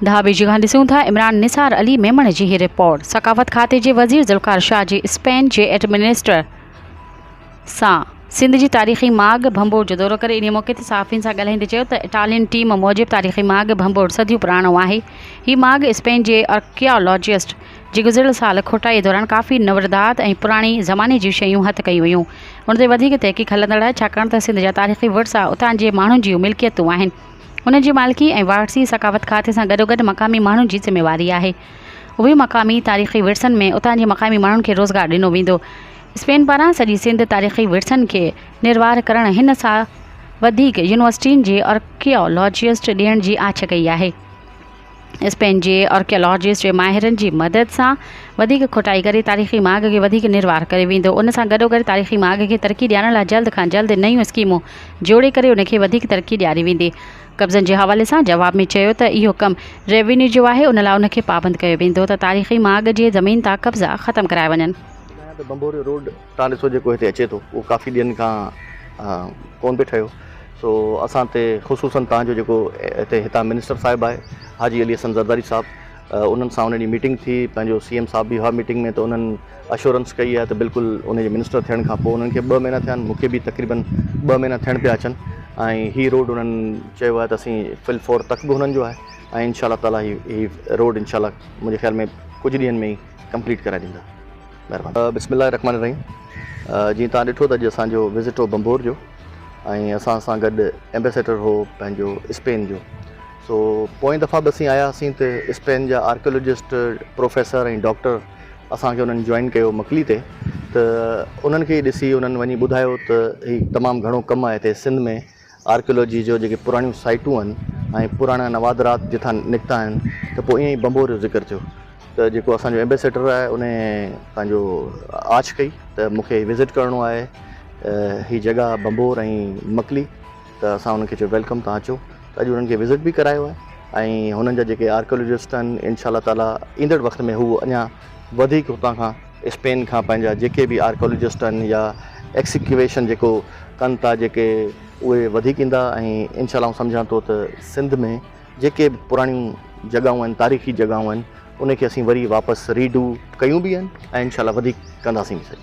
ڌاٻي جي کان ڏسون ٿا عمران نثار علي ميمڻ جي هي رپورٽ ثقافت کاتي جي وزير ذوالفقار شاهه جي اسپين جي ايڊمنسٽر سان سنڌ جي تاريخي ماڳ ڀنڀور جو دورو ڪري انهي موقعي تي صحافين سان ڳالهائيندي چيو ته اٽالين ٽيم موجب تاريخي ماڳ ڀنڀور صديون پراڻو آهي هي ماڳ اسپين جي ارڪيالاجسٽ جي گذريل سال کوٽائيء دوران ڪافي نوردات ۽ پراڻي زماني جون شيون هٿ ڪيون ويون. ان تي وڌيڪ تحقيق هلندڙ آهي، ڇاڪاڻ ته سنڌ جا تاريخي ورثا اتان جي ماڻهن جيون ملڪيتون آهن. انهن جي مالڪي ۽ واهرسي ثقافت کاتي سان گڏوگڏ مقامي ماڻهن جي ذميواري آهي. اهي مقامي تاريخي ورثن ۾ اتان جي مقامي ماڻهن کي روزگار ڏنو ويندو. اسپين پاران سڄي سنڌ تاريخي ورثن کي نروار ڪرڻ هن سال وڌيڪ يونيورسٽين جي آرڪيالاجسٽ ڏيڻ جي آڇ ڪئي آهي. اس پنهنجي آرڪيالاجسٽ جي ماهرن جي مدد سان وڌيڪ کوٽائي ڪري تاريخي ماڳ کي وڌيڪ نروار ڪريو ويندو، ان سان گڏوگڏ تاريخي ماڳ کي ترقي ڏيارڻ لاء جلد کان جلد نيون اسڪيمون جوڙي ڪري ان کي وڌيڪ ترقي ڏياري ويندي. قبضن جي حوالي سان جواب ۾ چيو ته اهو ڪم روينيو جو آهي ان لاء ان کي پابند ڪيو ويندو ته تاريخي ماڳ جي زمين تان قبضا ختم ڪرايا وڃن. ٻڌايان ته بنبوريو روڊ تان ڏسو جيڪو هتي اچي ٿو اهو ڪافي ڏينهن کان ڪون پئي ٺهيو سو اسان تي خصوصن تان جو جيڪو هتي هتان منسٽر صاحب آهي حاجي علي حسن زرداري صاحب انهن سان ان ڏينهن ميٽنگ ٿي پنهنجو سي ايم صاحب به هئا ميٽنگ ۾ ته انهن اشورنس ڪئي آهي ته بلڪل ان جي منسٽر ٿيڻ کان پوء انهن کي ٻه مهينا ٿيا آهن مون کي به تقريبن ٻه مهينا ٿيڻ پيا اچن ۽ هي روڊ انهن چيو آهي ته اسين فل فور تخ به انهن جو آهي ۽ انشاء الله تعالي هي روڊ انشاء الله منهنجي خيال ۾ ڪجهه ڏينهن ۾ ئي ڪمپليٽ ڪرائي ڏيندا. مهرباني. بسم الله الرحمن الرحيم جيئن توهان ڏٺو ته اڄ اسان جو وزٽ هو بمبور جو ۽ اسان سان گڏ ايمبيسيڊر هو پنهنجو اسپين جو سو پوئين دفعا به اسين آيا هئاسين ته اسپين جا آرڪيولوجسٽ پروفيسر ۽ ڊاڪٽر اسان کي انهن جوائن ڪيو مڪلي تي ته انهن کي ڏسي انهن وڃي ٻڌايو ته هي تمام گهڻو ڪم آهي هتي سنڌ ۾ آرڪيالاجي جو جيڪي پراڻيون سائيٽون آهن ۽ پراڻا نوادرات جتان نڪتا آهن ته پوء ائين ئي ڀنڀور جو ذڪر ٿيو ته جيڪو اسان جو ايمبيسيڊر آهي ان پنهنجو آڇ ڪئي ته مون کي وزٽ ڪرڻو آهي هي جڳهه ڀنڀور ۽ مڪلي ته اسان انهن کي چيو ويلڪم تهان اچو ته اڄ انهن کي وزٽ به ڪرايو آهي ۽ هنن جا جيڪي آرڪيالاجسٽ آهن انشاء الله تعالٰي ايندڙ وقت ۾ هو اڃا وڌيڪ هتان کان اسپين کان پنهنجا جيڪي به آرڪيالاجسٽ آهن يا ايڪسڪيويشن جيڪو ڪن ٿا جيڪي اهي وڌيڪ ايندا ۽ انشاء الله آئون سمجهان ٿو ته سنڌ ۾ جيڪي به پراڻيون جڳهون آهن تاريخي جڳهون آهن انهي کي اسين وري واپس ري ڊو ڪيون به آهن ۽ انشاء الله وڌيڪ ڪنداسين به سهي.